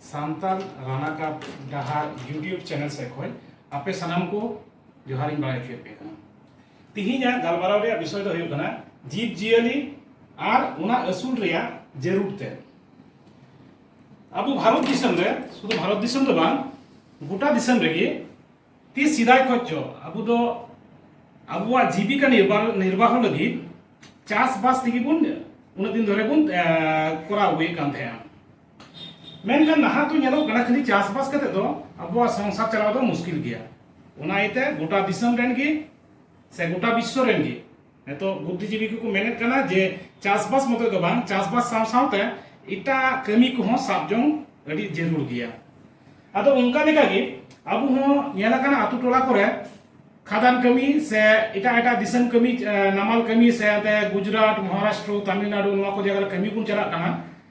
ᱥᱟᱱᱛᱟᱞ ᱨᱟᱱᱟ ᱠᱟ ᱰᱟᱦᱟᱨ ᱭᱩᱴᱤᱭᱩᱵ ᱪᱮᱱᱮᱞ ᱥᱮᱫ ᱠᱷᱚᱱ ᱟᱯᱮ ᱥᱟᱱᱟᱢ ᱠᱚ ᱡᱚᱦᱟᱨ ᱤᱧ ᱵᱟᱲᱟᱭ ᱦᱚᱪᱚᱭᱮᱫ ᱯᱮ ᱠᱟᱱᱟ ᱛᱤᱦᱤᱧᱟᱜ ᱜᱟᱞᱢᱟᱨᱟᱣ ᱨᱮᱭᱟᱜ ᱵᱤᱥᱚᱭ ᱫᱚ ᱦᱩᱭᱩᱜ ᱠᱟᱱᱟ ᱡᱤᱵᱽ ᱡᱤᱭᱟᱹᱞᱤ ᱟᱨ ᱚᱱᱟ ᱟᱹᱥᱩᱞ ᱨᱮᱭᱟᱜ ᱡᱟᱹᱨᱩᱲ ᱛᱮ ᱟᱵᱚ ᱵᱷᱟᱨᱚᱛ ᱫᱤᱥᱚᱢ ᱨᱮ ᱥᱩᱫᱷᱩ ᱵᱷᱟᱨᱚᱛ ᱫᱤᱥᱚᱢ ᱫᱚ ᱵᱟᱝ ᱜᱚᱴᱟ ᱫᱤᱥᱚᱢ ᱨᱮᱜᱮ ᱛᱤ ᱥᱮᱫᱟᱭ ᱠᱷᱚᱱ ᱪᱚ ᱟᱵᱚ ᱫᱚ ᱟᱵᱚᱣᱟᱜ ᱡᱤᱵᱤᱠᱟ ᱱᱤᱨᱵᱟᱦᱚ ᱞᱟᱹᱜᱤᱫ ᱪᱟᱥᱵᱟᱥ ᱛᱮᱜᱮ ᱵᱚᱱ ᱩᱱᱟᱹᱜ ᱫᱤᱱ ᱫᱷᱚᱨᱮ ᱵᱚᱱ ᱠᱚᱨᱟᱣ ᱟᱹᱜᱩᱭᱮᱫ ᱠᱟᱱ ᱛᱟᱦᱮᱸᱜᱼᱟ ᱢᱮᱱᱠᱷᱟᱱ ᱱᱟᱦᱟᱜ ᱫᱚ ᱧᱮᱞᱚᱜ ᱠᱟᱱᱟ ᱠᱷᱟᱹᱞᱤ ᱪᱟᱥᱵᱟᱥ ᱠᱟᱛᱮ ᱫᱚ ᱟᱵᱚᱣᱟᱜ ᱥᱚᱝᱥᱟᱨ ᱪᱟᱞᱟᱣ ᱫᱚ ᱢᱩᱥᱠᱤᱞ ᱜᱮᱭᱟ ᱚᱱᱟ ᱤᱭᱟᱹᱛᱮ ᱜᱚᱴᱟ ᱫᱤᱥᱚᱢ ᱨᱮᱱ ᱜᱮ ᱥᱮ ᱜᱚᱴᱟ ᱵᱤᱥᱥᱚ ᱨᱮᱱ ᱜᱮ ᱱᱤᱛᱚᱜ ᱵᱩᱫᱽᱫᱷᱤᱡᱤᱵᱤ ᱠᱚᱠᱚ ᱢᱮᱱᱮᱫ ᱠᱟᱱᱟ ᱡᱮ ᱪᱟᱥᱵᱟᱥ ᱢᱚᱛᱚ ᱫᱚ ᱵᱟᱝ ᱪᱟᱥᱵᱟᱥ ᱥᱟᱶ ᱥᱟᱶᱛᱮ ᱮᱴᱟᱜ ᱠᱟᱹᱢᱤ ᱠᱚᱦᱚᱸ ᱥᱟᱵ ᱡᱚᱝ ᱟᱹᱰᱤ ᱡᱟᱹᱨᱩᱲ ᱜᱮᱭᱟ ᱟᱫᱚ ᱚᱱᱠᱟ ᱞᱮᱠᱟ ᱜᱮ ᱟᱵᱚ ᱦᱚᱸ ᱧᱮᱞ ᱟᱠᱟᱱᱟ ᱟᱛᱳ ᱴᱚᱞᱟ ᱠᱚᱨᱮ ᱠᱷᱟᱫᱟᱱ ᱠᱟᱹᱢᱤ ᱥᱮ ᱮᱴᱟᱜ ᱮᱴᱟᱜ ᱫᱤᱥᱚᱢ ᱠᱟᱹᱢᱤ ᱱᱟᱢᱟᱞ ᱠᱟᱹᱢᱤ ᱥᱮ ᱜᱩᱡᱽᱨᱟᱴ ᱢᱚᱦᱟᱨᱟᱥᱴᱨᱚ ᱛᱟᱢᱤᱞᱱᱟᱲᱩ ᱱᱚᱣᱟ ᱠᱚ ᱡᱟᱭᱜᱟ ᱨᱮ ᱠᱟᱹᱢᱤ ᱵᱚᱱ ᱪᱟᱞᱟᱜ ᱠᱟᱱᱟ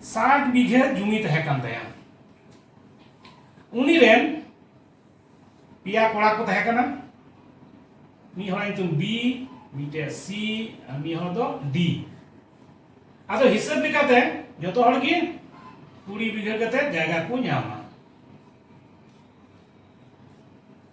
ᱥᱟᱴ ᱵᱤᱜᱷᱟᱹ ᱡᱩᱢᱤ ᱛᱟᱦᱮᱸ ᱠᱟᱱ ᱛᱟᱭᱟ ᱩᱱᱤ ᱨᱮᱱ ᱯᱮᱭᱟ ᱠᱚᱲᱟ ᱠᱚ ᱛᱟᱦᱮᱸ ᱠᱟᱱᱟ ᱢᱤᱫ ᱦᱚᱲᱟᱜ ᱧᱩᱛᱩᱢ ᱵᱤ ᱢᱤᱫᱴᱮᱡ ᱥᱤ ᱟᱨ ᱢᱤᱫ ᱦᱚᱲ ᱫᱚ ᱰᱤ ᱟᱫᱚ ᱦᱤᱥᱟᱹᱵ ᱞᱮᱠᱟᱛᱮ ᱡᱚᱛᱚ ᱦᱚᱲ ᱜᱮ ᱠᱩᱲᱤ ᱵᱤᱜᱷᱟᱹ ᱠᱟᱛᱮ ᱡᱟᱭᱜᱟ ᱠᱚ ᱧᱟᱢᱟ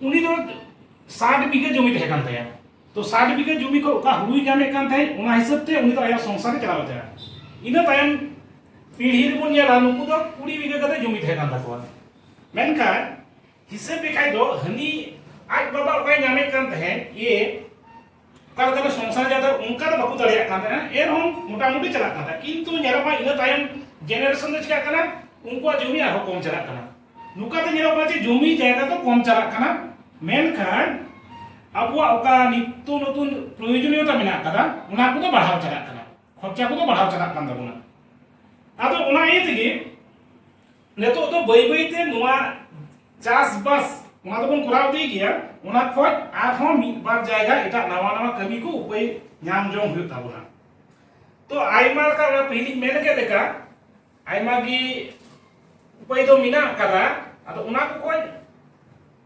ᱩᱱᱤ ᱫᱚ ᱥᱟᱴ ᱵᱤᱜᱷᱟᱹ ᱡᱚᱢᱤ ᱛᱟᱦᱮᱸ ᱠᱟᱱ ᱛᱟᱭᱟ ᱛᱚ ᱥᱟᱴ ᱵᱤᱜᱷᱟᱹ ᱡᱚᱢᱤ ᱠᱷᱚᱱ ᱚᱠᱟ ᱦᱩᱲᱩᱭ ᱧᱟᱢᱮᱫ ᱠᱟᱱ ᱛᱟᱦᱮᱸᱫ ᱚᱱᱟ ᱦᱤᱥᱟᱹᱵ ᱛᱮ ᱩᱱᱤ ᱫᱚ ᱟᱭᱟᱜ ᱥᱚᱝᱥᱟᱨ ᱮ ᱪᱟᱞᱟᱣ ᱛᱟᱭᱟ ᱤᱱᱟᱹ ᱛᱟᱭᱚᱢ ᱯᱤᱲᱦᱤ ᱨᱮᱵᱚᱱ ᱧᱮᱞᱟ ᱱᱩᱠᱩ ᱫᱚ ᱠᱩᱲᱤ ᱵᱤᱜᱷᱟᱹ ᱠᱟᱛᱮ ᱡᱚᱢᱤ ᱛᱟᱦᱮᱸ ᱠᱟᱱ ᱛᱟᱠᱚᱣᱟ ᱢᱮᱱᱠᱷᱟᱱ ᱦᱤᱥᱟᱹᱵ ᱞᱮᱠᱷᱟᱡ ᱫᱚ ᱦᱟᱹᱱᱤ ᱟᱡ ᱵᱟᱵᱟ ᱚᱠᱟᱭ ᱧᱟᱢᱮᱫ ᱠᱟᱱ ᱛᱟᱦᱮᱸᱫ ᱮ ᱚᱠᱟ ᱞᱮᱠᱟᱛᱮ ᱥᱚᱝᱥᱟᱨ ᱡᱟᱛᱮ ᱚᱱᱠᱟ ᱫᱚ ᱵᱟᱠᱚ ᱫᱟᱲᱮᱭᱟᱜ ᱠᱟᱱ ᱛᱟᱦᱮᱱᱟ ᱮᱱᱦᱚᱸ ᱢᱚᱴᱟᱢᱩᱴᱤ ᱪᱟᱞᱟᱜ ᱠᱟᱱ ᱛᱟᱦᱮᱸ ᱠᱤᱱᱛᱩ ᱧᱮᱞᱚᱜ ᱠᱟᱱᱟ ᱤᱱᱟᱹ ᱛᱟᱭᱚᱢ ᱡᱮᱱᱟᱨᱮᱥᱚᱱ ᱫᱚ ᱪᱤᱠᱟᱜ ᱠᱟᱱᱟ ᱩᱱᱠᱩᱣᱟᱜ ᱡᱚᱢᱤ ᱟᱨᱦᱚᱸ ᱠᱚᱢ ᱪᱟᱞᱟᱜ ᱠᱟᱱᱟ ᱱᱚᱝᱠᱟᱛᱮ ᱧᱮᱞᱚᱜ ᱠᱟᱱᱟ ᱡᱮ ᱡᱚᱢᱤ ᱡᱟᱭᱜᱟ ᱫᱚ ᱠᱚᱢ ᱪᱟᱞᱟᱜ ᱠᱟᱱᱟ ᱢᱮᱱᱠᱷᱟᱱ ᱟᱵᱚᱣᱟᱜ ᱚᱠᱟ ᱱᱤᱛᱛ ᱱᱚᱛᱩᱱ ᱯᱨᱚᱭᱳᱡᱚᱱᱤᱭᱚᱛᱟ ᱢᱮᱱᱟᱜ ᱟᱠᱟᱫᱟ ᱚᱱᱟ ᱠᱚᱫᱚ ᱵᱟᱲᱦᱟᱣ ᱪᱟᱞᱟᱜ ᱠᱟᱱᱟ ᱠᱷᱚᱨᱪᱟ ᱠᱚᱫᱚ ᱵᱟᱲᱦᱟᱣ ᱪᱟᱞᱟᱜ ᱠᱟᱱ ᱛᱟᱵᱚᱱᱟ ᱟᱫᱚ ᱚᱱᱟ ᱤᱭᱟᱹ ᱛᱮᱜᱮ ᱱᱤᱛᱚᱜ ᱫᱚ ᱵᱟᱹᱭ ᱵᱟᱹᱭ ᱛᱮ ᱱᱚᱣᱟ ᱪᱟᱥ ᱵᱟᱥ ᱚᱱᱟ ᱫᱚᱵᱚᱱ ᱠᱚᱨᱟᱣ ᱤᱫᱤ ᱜᱮᱭᱟ ᱚᱱᱟ ᱠᱷᱚᱡ ᱟᱨᱦᱚᱸ ᱢᱤᱫ ᱵᱟᱨ ᱡᱟᱭᱜᱟ ᱮᱴᱟᱜ ᱱᱟᱣᱟ ᱱᱟᱣᱟ ᱠᱟᱹᱢᱤ ᱠᱚ ᱩᱯᱟᱹᱭ ᱧᱟᱢ ᱡᱚᱝ ᱦᱩᱭᱩᱜ ᱛᱟᱵᱚᱱᱟ ᱛᱚ ᱟᱭᱢᱟ ᱞᱮᱠᱟ ᱚᱱᱟ ᱯᱟᱹᱦᱤᱞᱤᱧ ᱢᱮᱱ ᱠᱮᱫ ᱞᱮᱠᱟ ᱟᱭᱢᱟ ᱜᱮ ᱩᱯᱟᱹᱭ ᱫᱚ ᱢᱮᱱᱟᱜ ᱟᱠᱟᱫᱟ ᱟᱫᱚ ᱚᱱᱟ ᱠᱚ ᱠᱷᱚᱡ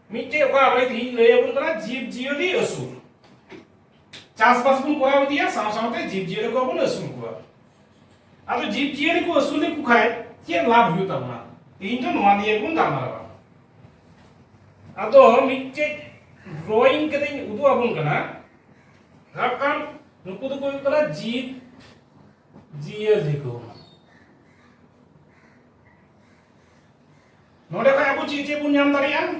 ᱢᱤᱫᱴᱮᱡ ᱚᱠᱟ ᱟᱵᱚ ᱛᱮᱦᱤᱧ ᱞᱟᱹᱭ ᱟᱵᱚᱱ ᱠᱟᱱᱟ ᱡᱤᱵᱽ ᱡᱤᱭᱟᱹᱞᱤ ᱟᱹᱥᱩᱞ ᱪᱟᱥᱵᱟᱥ ᱵᱚᱱ ᱠᱚᱨᱟᱣ ᱤᱫᱤᱭᱟ ᱥᱟᱶ ᱥᱟᱶᱛᱮ ᱡᱤᱵᱽ ᱡᱤᱭᱟᱹᱞᱤ ᱠᱚ ᱵᱚᱱ ᱟᱹᱥᱩᱞ ᱠᱚᱣᱟ ᱟᱫᱚ ᱡᱤᱵᱽ ᱡᱤᱭᱟᱹᱞᱤ ᱠᱚ ᱟᱹᱥᱩᱞ ᱞᱮᱠᱚ ᱠᱷᱟᱱ ᱪᱮᱫ ᱞᱟᱵᱷ ᱦᱩᱭᱩᱜ ᱛᱟᱵᱚᱱᱟ ᱛᱮᱦᱮᱧ ᱫᱚ ᱱᱚᱣᱟ ᱱᱤᱭᱮ ᱵᱚᱱ ᱜᱟᱞᱢᱟᱨᱟᱣᱟ ᱟᱫᱚ ᱢᱤᱫᱴᱮᱡ ᱰᱨᱚᱭᱤᱝ ᱠᱟᱛᱮᱧ ᱩᱫᱩᱜ ᱟᱵᱚᱱ ᱠᱟᱱᱟ ᱥᱟᱵ ᱠᱟᱜ ᱱᱩᱠᱩ ᱫᱚᱠᱚ ᱦᱩᱭᱩᱜ ᱠᱟᱱᱟ ᱡᱤᱵᱽ ᱡᱤᱭᱟᱹᱞᱤ ᱠᱚ ᱱᱚᱰᱮ ᱠᱷᱚᱱ ᱟᱵᱚ ᱪᱮᱫ ᱪᱮᱫ ᱵᱚᱱ ᱧᱟᱢ ᱫᱟᱲᱮᱭᱟᱜᱼᱟ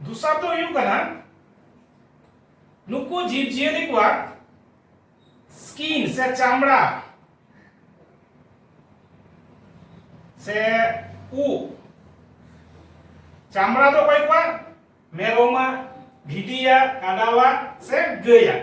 ᱫᱚᱥᱟᱨ ᱫᱚ ᱦᱩᱭᱩᱜ ᱠᱟᱱᱟ ᱱᱩᱠᱩ ᱡᱤᱵᱽ ᱡᱤᱭᱟᱹᱞᱤ ᱠᱚᱣᱟᱜ ᱥᱠᱤᱱ ᱥᱮ ᱪᱟᱢᱲᱟ ᱥᱮ ᱩ ᱪᱟᱢᱲᱟ ᱫᱚ ᱚᱠᱚᱭ ᱠᱚᱣᱟᱜ ᱢᱮᱨᱚᱢᱟᱜ ᱵᱷᱤᱰᱤᱭᱟᱜ ᱠᱟᱰᱟᱣᱟᱜ ᱥᱮ ᱜᱟᱹᱭᱟᱜ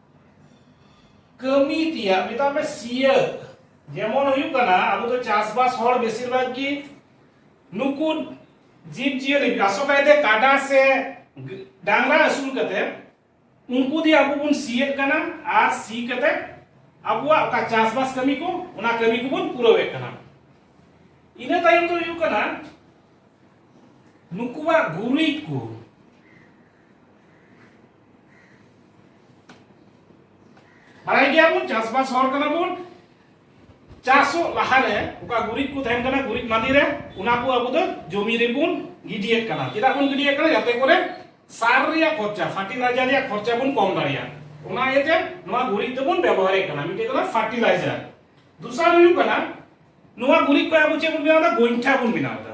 ᱠᱟᱹᱢᱤ ᱛᱮᱭᱟᱜ ᱢᱮᱛᱟᱜ ᱢᱮ ᱥᱤᱭᱟᱹ ᱡᱮᱢᱚᱱ ᱦᱩᱭᱩᱜ ᱠᱟᱱᱟ ᱟᱵᱚ ᱫᱚ ᱪᱟᱥᱵᱟᱥ ᱦᱚᱲ ᱵᱮᱥᱤᱨ ᱵᱷᱟᱜᱽ ᱜᱮ ᱱᱩᱠᱩ ᱡᱤᱵᱽ ᱡᱤᱭᱟᱹᱞᱤ ᱟᱥᱚᱞ ᱠᱟᱭᱛᱮ ᱠᱟᱰᱟ ᱥᱮ ᱰᱟᱝᱨᱟ ᱟᱹᱥᱩᱞ ᱠᱟᱛᱮ ᱩᱱᱠᱩ ᱫᱤᱭᱮ ᱟᱵᱚ ᱵᱚᱱ ᱥᱤᱭᱮᱫ ᱠᱟᱱᱟ ᱟᱨ ᱥᱤ ᱠᱟᱛᱮ ᱟᱵᱚᱣᱟᱜ ᱚᱠᱟ ᱪᱟᱥᱵᱟᱥ ᱠᱟᱹᱢᱤ ᱠᱚ ᱚᱱᱟ ᱠᱟᱹᱢᱤ ᱠᱚᱵᱚᱱ ᱯᱩᱨᱟᱹᱣᱮᱫ ᱠᱟᱱᱟ ᱤᱱᱟᱹ ᱛᱟᱭᱚᱢ ᱫᱚ ᱦᱩᱭᱩᱜ ᱠᱟᱱᱟ ᱱᱩᱠᱩᱣᱟᱜ ᱜᱩᱨᱤᱡ ᱠᱚ ᱵᱟᱲᱟᱭ ᱜᱮᱭᱟᱵᱚᱱ ᱪᱟᱥᱵᱟᱥ ᱦᱚᱲ ᱠᱟᱱᱟ ᱵᱚᱱ ᱪᱟᱥᱚᱜ ᱞᱟᱦᱟᱨᱮ ᱚᱠᱟ ᱜᱩᱨᱤᱡ ᱠᱚ ᱛᱟᱦᱮᱱ ᱠᱟᱱᱟ ᱜᱩᱨᱤᱡ ᱢᱟᱸᱫᱤ ᱨᱮ ᱚᱱᱟ ᱠᱚ ᱟᱵᱚ ᱫᱚ ᱡᱚᱢᱤ ᱨᱮᱵᱚᱱ ᱜᱤᱰᱤᱭᱮᱫ ᱠᱟᱱᱟ ᱪᱮᱫᱟᱜ ᱵᱚᱱ ᱜᱤᱰᱤᱭᱮᱫ ᱠᱟᱱᱟ ᱡᱟᱛᱮ ᱠᱚᱨᱮ ᱥᱟᱨ ᱨᱮᱭᱟᱜ ᱠᱷᱚᱨᱪᱟ ᱯᱷᱟᱨᱴᱤᱞᱟᱭᱡᱟᱨ ᱨᱮᱭᱟᱜ ᱠᱷᱚᱨᱪᱟ ᱵᱚᱱ ᱠᱚᱢ ᱫᱟᱲᱮᱭᱟᱜᱼᱟ ᱚᱱᱟ ᱤᱭᱟᱹᱛᱮ ᱱᱚᱣᱟ ᱜᱩᱨᱤᱡ ᱫᱚᱵᱚᱱ ᱵᱮᱵᱚᱦᱟᱨᱮᱫ ᱠᱟᱱᱟ ᱢᱤᱫᱴᱮᱡ ᱠᱟᱱᱟ ᱯᱷᱟᱨᱴᱤᱞᱟᱭᱡᱟᱨ ᱫᱚᱥᱟᱨ ᱦᱩᱭᱩᱜ ᱠᱟᱱᱟ ᱱᱚᱣᱟ ᱜᱩᱨᱤᱡ ᱠᱚ ᱟᱵᱚ ᱪᱮᱫ ᱵᱚᱱ ᱵᱮᱱᱟᱣ ᱮᱫᱟ ᱜᱚᱭᱴᱷᱟ ᱵᱚᱱ ᱵᱮᱱᱟᱣ ᱮᱫᱟ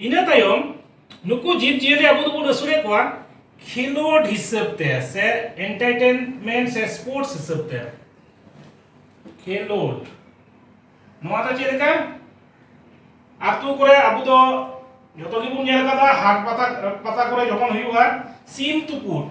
ᱤᱱᱟᱹ ᱛᱟᱭᱚᱢ ᱱᱩᱠᱩ ᱡᱤᱵᱽ ᱡᱤᱭᱟᱹᱞᱤ ᱟᱵᱚ ᱫᱚᱵᱚᱱ ᱟᱹᱥᱩᱞᱮᱫ ᱠᱚᱣᱟ ᱠᱷᱮᱞᱳᱰ ᱦᱤᱥᱟᱹᱵ ᱛᱮ ᱥᱮ ᱮᱱᱴᱟᱨᱴᱮᱱᱢᱮᱱᱴ ᱥᱮ ᱥᱯᱳᱨᱴᱥ ᱦᱤᱥᱟᱹᱵ ᱛᱮ ᱠᱷᱮᱞᱳᱰ ᱱᱚᱣᱟ ᱫᱚ ᱪᱮᱫ ᱞᱮᱠᱟ ᱟᱛᱳ ᱠᱚᱨᱮ ᱟᱵᱚ ᱫᱚ ᱡᱚᱛᱚ ᱜᱮᱵᱚᱱ ᱧᱮᱞ ᱠᱟᱫᱟ ᱦᱟᱴ ᱯᱟᱛᱟ ᱯᱟᱛᱟ ᱠᱚᱨᱮ ᱡᱚᱠᱷᱚᱱ ᱦᱩᱭᱩᱜᱼᱟ ᱥᱤᱢ ᱛᱩᱯᱩᱫ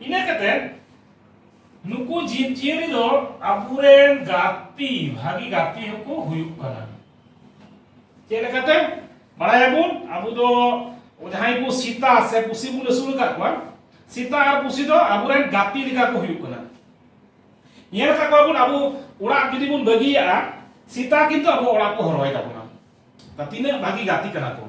ᱤᱱᱟᱹ ᱠᱟᱛᱮ ᱱᱩᱠᱩ ᱡᱤᱵᱽ ᱡᱤᱭᱟᱹᱞᱤ ᱫᱚ ᱟᱵᱚᱨᱮᱱ ᱜᱟᱛᱮ ᱵᱷᱟᱹᱜᱤ ᱜᱟᱛᱮ ᱦᱚᱸᱠᱚ ᱦᱩᱭᱩᱜ ᱠᱟᱱᱟ ᱪᱮᱫ ᱞᱮᱠᱟᱛᱮ ᱵᱟᱲᱟᱭᱟᱵᱚᱱ ᱟᱵᱚ ᱫᱚ ᱡᱟᱦᱟᱸᱭ ᱠᱚ ᱥᱤᱛᱟ ᱥᱮ ᱯᱩᱥᱤ ᱵᱚᱱ ᱟᱹᱥᱩᱞ ᱟᱠᱟᱫ ᱠᱚᱣᱟ ᱥᱤᱛᱟ ᱟᱨ ᱯᱩᱥᱤ ᱫᱚ ᱟᱵᱚᱨᱮᱱ ᱜᱟᱛᱮ ᱞᱮᱠᱟ ᱠᱚ ᱦᱩᱭᱩᱜ ᱠᱟᱱᱟ ᱧᱮᱞ ᱟᱠᱟᱫ ᱠᱚᱣᱟ ᱵᱚᱱ ᱟᱵᱚ ᱚᱲᱟᱜ ᱡᱩᱫᱤ ᱵᱚᱱ ᱵᱟᱹᱜᱤᱭᱟᱜᱼᱟ ᱥᱤᱛᱟ ᱠᱤᱱᱛᱩ ᱟᱵᱚ ᱚᱲᱟᱜ ᱠᱚ ᱦᱚᱨᱚᱭ ᱛᱟᱵᱚᱱᱟ ᱛᱤᱱᱟᱹᱜ ᱵᱷᱟᱹᱜᱤ ᱜᱟᱛᱮ ᱠᱟᱱᱟ ᱠᱚ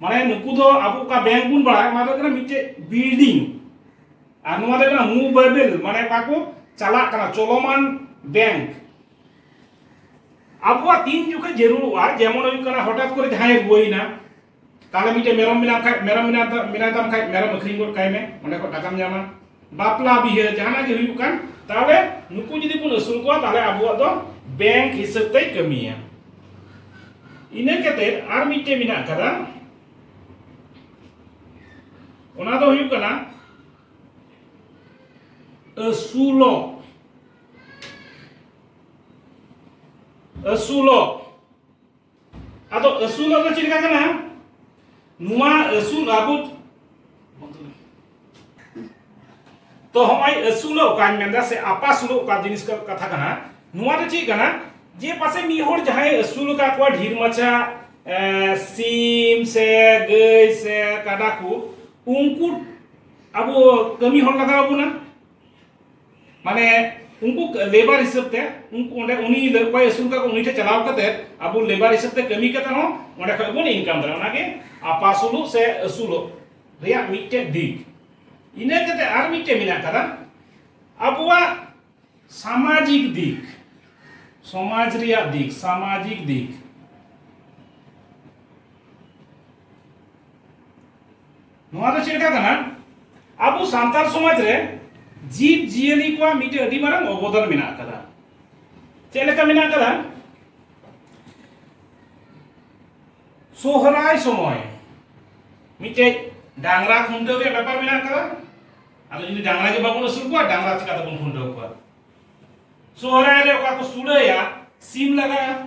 ᱢᱟᱱᱮ ᱱᱩᱠᱩ ᱫᱚ ᱟᱵᱚ ᱚᱠᱟ ᱵᱮᱝᱠ ᱵᱚᱱ ᱵᱟᱲᱟᱭ ᱚᱱᱟ ᱫᱚ ᱠᱟᱱᱟ ᱢᱤᱫᱴᱮᱡ ᱵᱤᱞᱰᱤᱝ ᱟᱨ ᱱᱚᱣᱟ ᱫᱚ ᱠᱟᱱᱟ ᱢᱩᱵᱮᱵᱮᱞ ᱢᱟᱱᱮ ᱚᱠᱟ ᱠᱚ ᱪᱟᱞᱟᱜ ᱠᱟᱱᱟ ᱪᱚᱞᱚᱢᱟᱱ ᱵᱮᱝᱠ ᱟᱵᱚᱣᱟᱜ ᱛᱤᱱ ᱡᱚᱠᱷᱮᱡ ᱡᱟᱹᱨᱩᱲᱚᱜᱼᱟ ᱡᱮᱢᱚᱱ ᱦᱩᱭᱩᱜ ᱠᱟᱱᱟ ᱦᱚᱴᱟᱛ ᱠᱚᱨᱮ ᱡᱟᱦᱟᱸᱭ ᱨᱩᱣᱟᱹᱭᱮᱱᱟ ᱛᱟᱦᱚᱞᱮ ᱢᱤᱫᱴᱮᱡ ᱢᱮᱨᱚᱢ ᱢᱮᱱᱟᱜ ᱠᱷᱟᱡ ᱢᱮᱨᱚᱢ ᱢᱮᱱᱟᱭ ᱛᱟᱢ ᱠᱷᱟᱡ ᱢᱮᱨᱚᱢ ᱟᱹᱠᱷᱨᱤᱧ ᱜᱚᱫ ᱠᱟᱭ ᱢᱮ ᱚᱸᱰᱮ ᱠᱷᱚᱡ ᱴᱟᱠᱟᱢ ᱧᱟᱢᱟ ᱵᱟᱯᱞᱟ ᱵᱤᱦᱟᱹ ᱡᱟᱦᱟᱱᱟᱜ ᱜᱮ ᱦᱩᱭᱩᱜ ᱠᱟᱱ ᱛᱟᱦᱚᱞᱮ ᱱᱩᱠᱩ ᱡᱩᱫᱤ ᱵᱚᱱ ᱟᱹᱥᱩᱞ ᱠᱚᱣᱟ ᱛᱟᱦᱚᱞᱮ ᱟᱵᱚᱣᱟᱜ ᱫᱚ ᱵᱮᱝᱠ ᱦᱤᱥᱟᱹᱵ ᱛᱮᱭ ᱠᱟᱹᱢᱤᱭᱟ ᱤᱱᱟᱹ ᱠᱟᱛᱮ ᱟᱨ ᱢᱤᱫᱴᱮᱱ ᱢᱮᱱᱟᱜ ᱟᱠᱟᱫᱟ ᱚᱱᱟ ᱫᱚ ᱦᱩᱭᱩᱜ ᱠᱟᱱᱟ ᱟᱹᱥᱩᱞᱚᱜ ᱟᱹᱥᱩᱞᱚᱜ ᱟᱫᱚ ᱟᱹᱥᱩᱞ ᱟᱫᱚ ᱪᱮᱫ ᱞᱮᱠᱟ ᱠᱟᱱᱟ ᱱᱚᱣᱟ ᱟᱹᱥᱩᱞ ᱟᱵᱚ ᱛᱚ ᱦᱚᱸᱜᱼᱚᱭ ᱟᱹᱥᱩᱞᱚᱜ ᱚᱠᱟᱧ ᱢᱮᱱᱫᱟ ᱥᱮ ᱟᱯᱟᱥᱩᱞᱚᱜ ᱚᱠᱟ ᱡᱤᱱᱤᱥ ᱠᱟᱛᱷᱟ ᱠᱟᱱᱟ ᱱᱚᱣᱟ ᱫᱚ ᱪᱮᱫ ᱠᱟᱱᱟ ᱡᱮ ᱯᱟᱥᱮ ᱢᱤᱫ ᱦᱚᱲ ᱡᱟᱦᱟᱸᱭ ᱟᱹᱥᱩᱞ ᱟᱠᱟᱫ ᱠᱚᱣᱟ ᱰᱷᱮᱨ ᱢᱟᱪᱷᱟ ᱥᱤᱢ ᱥᱮ ᱜᱟᱹᱭ ᱥᱮ ᱠᱟᱰᱟ ᱠᱚ ᱩᱱᱠᱩ ᱟᱵᱚ ᱠᱟᱹᱢᱤ ᱦᱚᱲ ᱞᱟᱜᱟᱣ ᱵᱚᱱᱟ ᱢᱟᱱᱮ ᱩᱱᱠᱩ ᱞᱮᱵᱟᱨ ᱦᱤᱥᱟᱹᱵ ᱛᱮ ᱩᱱᱠᱩ ᱚᱸᱰᱮ ᱩᱱᱤ ᱚᱠᱚᱭ ᱟᱹᱥᱩᱞ ᱠᱟᱠᱚ ᱩᱱᱤ ᱴᱷᱮᱱ ᱪᱟᱞᱟᱣ ᱠᱟᱛᱮ ᱟᱵᱚ ᱞᱮᱵᱟᱨ ᱦᱤᱥᱟᱹᱵ ᱛᱮ ᱠᱟᱹᱢᱤ ᱠᱟᱛᱮ ᱦᱚᱸ ᱚᱸᱰᱮ ᱠᱷᱚᱱ ᱵᱚᱱ ᱤᱱᱠᱟᱢ ᱫᱟᱲᱮᱭᱟᱜᱼᱟ ᱚᱱᱟᱜᱮ ᱟᱯᱟᱥᱩᱞᱚᱜ ᱥᱮ ᱟᱹᱥᱩᱞᱚᱜ ᱨᱮᱭᱟᱜ ᱢᱤᱫᱴᱮᱡ ᱫᱤᱠ ᱤᱱᱟᱹ ᱠᱟᱛᱮ ᱟᱨ ᱢᱤᱫᱴᱮᱡ ᱢᱮᱱᱟᱜ ᱠᱟᱫᱟ ᱟᱵᱚᱣᱟᱜ ᱥᱟᱢᱟᱡᱤᱠ ᱫᱤᱠ ᱥᱚᱢᱟᱡᱽ ᱨᱮᱭᱟᱜ ᱫᱤᱠ ᱥᱟᱢᱟᱡᱤᱠ ᱫᱤᱠ ᱱᱚᱣᱟ ᱫᱚ ᱪᱮᱫ ᱞᱮᱠᱟ ᱠᱟᱱᱟ ᱟᱵᱚ ᱥᱟᱱᱛᱟᱲ ᱥᱚᱢᱟᱡᱽ ᱨᱮ ᱡᱤᱵᱽ ᱡᱤᱭᱟᱹᱞᱤ ᱠᱚᱣᱟᱜ ᱢᱤᱫᱴᱮᱱ ᱟᱹᱰᱤ ᱢᱟᱨᱟᱝ ᱚᱵᱚᱫᱟᱱ ᱢᱮᱱᱟᱜ ᱟᱠᱟᱫᱟ ᱪᱮᱫ ᱞᱮᱠᱟ ᱢᱮᱱᱟᱜ ᱟᱠᱟᱫᱟ ᱥᱚᱦᱨᱟᱭ ᱥᱚᱢᱚᱭ ᱢᱤᱫᱴᱮᱡ ᱰᱟᱝᱨᱟ ᱠᱷᱩᱱᱴᱟᱹᱣ ᱨᱮᱭᱟᱜ ᱵᱮᱯᱟᱨ ᱢᱮᱱᱟᱜ ᱟᱠᱟᱫᱟ ᱟᱫᱚ ᱡᱩᱫᱤ ᱰᱟᱝᱨᱟ ᱜᱮ ᱵᱟᱵᱚᱱ ᱟᱹᱥᱩᱞ ᱠᱚᱣᱟ ᱰᱟᱝᱨᱟ ᱪᱤᱠᱟ ᱛᱮᱵᱚᱱ ᱠᱷᱩᱱᱴᱟᱹᱣ ᱠᱚᱣᱟ ᱥᱚᱦᱨᱟᱭ ᱨᱮ ᱚᱠᱟ ᱠᱚ ᱥᱩᱲᱟᱹᱭᱟ ᱥᱤᱢ ᱞᱟᱜᱟᱜᱼᱟ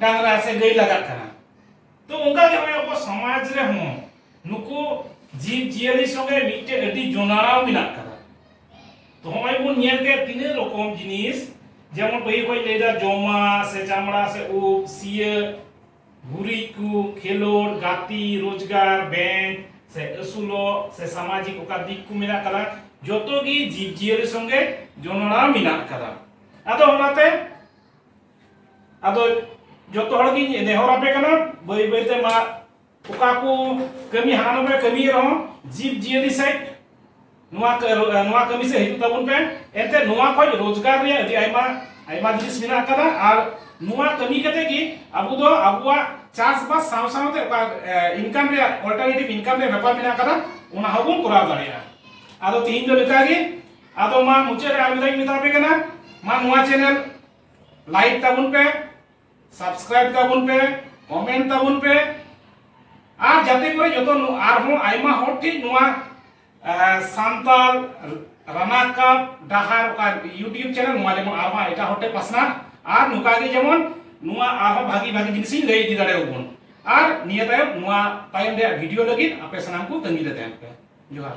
ᱰᱟᱝᱨᱟ ᱥᱮ ᱜᱟᱹᱭ ᱞᱟᱜᱟᱜ ᱠᱟᱱᱟ ᱛᱚ ᱚᱱᱠᱟ ᱜᱮ ᱦᱚᱸᱜᱼᱚᱭ ᱟᱵᱚ ᱥᱚᱢᱟᱡᱽ ᱨᱮᱦᱚᱸ ᱱᱩᱠᱩ ᱡᱤᱵᱽ ᱡᱤᱭᱟᱹᱞᱤ ᱥᱚᱸᱜᱮ ᱢᱤᱫᱴᱮᱡ ᱟᱹᱰᱤ ᱡᱚᱱᱟᱲᱟᱣ ᱢᱮᱱᱟᱜ ᱠᱟᱫᱟ ᱛᱚ ᱦᱚᱸᱜᱼᱚᱭ ᱵᱚᱱ ᱧᱮᱞ ᱠᱮᱫ ᱛᱤᱱᱟᱹᱜ ᱨᱚᱠᱚᱢ ᱡᱤᱱᱤᱥ ᱡᱮᱢᱚᱱ ᱯᱟᱹᱦᱤᱞ ᱠᱷᱚᱡ ᱞᱟᱹᱭᱫᱟ ᱡᱚᱢᱟ ᱥᱮ ᱪᱟᱢᱲᱟ ᱥᱮ ᱩᱵ ᱥᱤᱭᱟᱹ ᱜᱩᱨᱤᱡ ᱠᱚ ᱠᱷᱮᱞᱳᱰ ᱜᱟᱛᱮ ᱨᱳᱡᱽᱜᱟᱨ ᱵᱮᱝᱠ ᱥᱮ ᱟᱹᱥᱩᱞᱚᱜ ᱥᱮ ᱥᱟᱢᱟᱡᱤᱠ ᱚᱠᱟ ᱫᱤᱠ ᱠᱚ ᱢᱮᱱᱟᱜ ᱠᱟᱫᱟ ᱡᱚᱛᱚ ᱜᱮ ᱡᱤᱵᱽ ᱡᱤᱭᱟᱹᱞᱤ ᱥᱚᱸᱜᱮ ᱡᱚᱱᱚᱲᱟᱣ ᱢᱮᱱᱟᱜ ᱠᱟᱫᱟ ᱟᱫᱚ ᱚᱱᱟᱛᱮ ᱟᱫᱚ ᱡᱚᱛᱚ ᱦᱚᱲ ᱜᱤᱧ ᱱᱮᱦᱚᱨ ᱟᱯᱮ ᱠᱟᱱᱟ ᱵᱟᱹᱭ ᱵᱟᱹᱭ ᱛᱮ ᱢᱟ ᱚᱠᱟ ᱠᱚ ᱠᱟᱹᱢᱤ ᱦᱟᱱᱟ ᱱᱚᱣᱟ ᱯᱮ ᱠᱟᱹᱢᱤ ᱨᱮᱦᱚᱸ ᱡᱤᱵᱽ ᱡᱤᱭᱟᱹᱞᱤ ᱥᱮᱫ ᱱᱚᱣᱟ ᱱᱚᱣᱟ ᱠᱟᱹᱢᱤ ᱥᱮᱫ ᱦᱤᱡᱩᱜ ᱛᱟᱵᱚᱱ ᱯᱮ ᱮᱱᱛᱮ ᱱᱚᱣᱟ ᱠᱷᱚᱡ ᱨᱳᱡᱽᱜᱟᱨ ᱨᱮᱭᱟᱜ ᱟᱹᱰᱤ ᱟᱭᱢᱟ ᱟᱭᱢᱟ ᱡᱤᱱᱤᱥ ᱢᱮᱱᱟᱜ ᱟᱠᱟᱫᱟ ᱟᱨ ᱱᱚᱣᱟ ᱠᱟᱹᱢᱤ ᱠᱟᱛᱮ ᱜᱮ ᱟᱵᱚ ᱫᱚ ᱟᱵᱚᱣᱟᱜ ᱪᱟᱥᱵᱟᱥ ᱥᱟᱶ ᱥᱟᱶᱛᱮ ᱚᱠᱟ ᱤᱱᱠᱟᱢ ᱨᱮᱭᱟᱜ ᱚᱞᱴᱟᱨᱱᱮᱴᱤᱵᱷ ᱤᱱᱠᱟᱢ ᱨᱮᱭᱟᱜ ᱵᱮᱯᱟᱨ ᱢᱮᱱᱟᱜ ᱟᱠᱟᱫᱟ ᱚᱱᱟ ᱦᱚᱸᱵᱚᱱ ᱠᱚᱨᱟᱣ ᱫᱟᱲᱮᱭᱟᱜᱼᱟ ᱟᱫᱚ ᱛᱤᱦᱤᱧ ᱫᱚ ᱞᱮᱠᱟᱜᱮ ᱟᱫᱚ ᱢᱟ ᱢᱩᱪᱟᱹᱫ ᱨᱮ ᱟᱨ ᱢᱤᱫ ᱫᱷᱟᱣ ᱢᱮᱛᱟ ᱯᱮ ᱠᱟᱱᱟ ᱢᱟ ᱱᱚᱣᱟ ᱪᱮᱱᱮᱞ ᱞᱟᱭᱤᱠ ᱛᱟᱵᱚᱱ ᱯᱮ ᱥᱟᱵᱥᱠᱨᱟᱭᱤᱵ ᱛᱟᱵᱚᱱ ᱯᱮ ᱠᱚᱢᱮᱱᱴ ᱛᱟᱵᱚᱱ ᱯᱮ ᱟᱨ ᱡᱟᱛᱮ ᱠᱚᱨᱮ ᱡᱚᱛᱚ ᱟᱨᱦᱚᱸ ᱟᱭᱢᱟ ᱦᱚᱲ ᱴᱷᱮᱱ ᱱᱚᱣᱟ ᱥᱟᱱᱛᱟᱲ ᱨᱟᱱᱟᱠᱟᱯ ᱰᱟᱦᱟᱨ ᱚᱠᱟ ᱤᱭᱩᱴᱤᱭᱩᱵ ᱪᱮᱱᱮᱞ ᱱᱚᱣᱟ ᱡᱮᱢᱚᱱ ᱟᱨᱦᱚᱸ ᱮᱴᱟᱜ ᱦᱚᱲ ᱴᱷᱮᱱ ᱯᱟᱥᱱᱟᱜ ᱟᱨ ᱱᱚᱝᱠᱟ ᱜᱮ ᱡᱮᱢᱚᱱ ᱱᱚᱣᱟ ᱟᱨᱦᱚᱸ ᱵᱷᱟᱜᱤ ᱵᱷᱟᱜᱤ ᱡᱤᱱᱤᱥ ᱤᱧ ᱞᱟᱹᱭ ᱤᱫᱤ ᱫᱟᱲᱮᱭᱟᱵᱚᱱ ᱟᱨ ᱱᱤᱭᱟᱹ ᱛᱟᱭᱚᱢ ᱱᱚᱣᱟ ᱛᱟᱭᱚᱢ ᱨᱮᱭᱟᱜ ᱵᱷᱤᱰᱤᱭᱳ ᱞᱟᱹᱜᱤᱫ ᱟᱯᱮ ᱥᱟᱱᱟᱢ ᱠᱚ ᱛᱟᱺᱜᱤ ᱨᱮ ᱛᱟᱦᱮᱱ ᱯᱮ ᱡᱚᱦᱟᱨ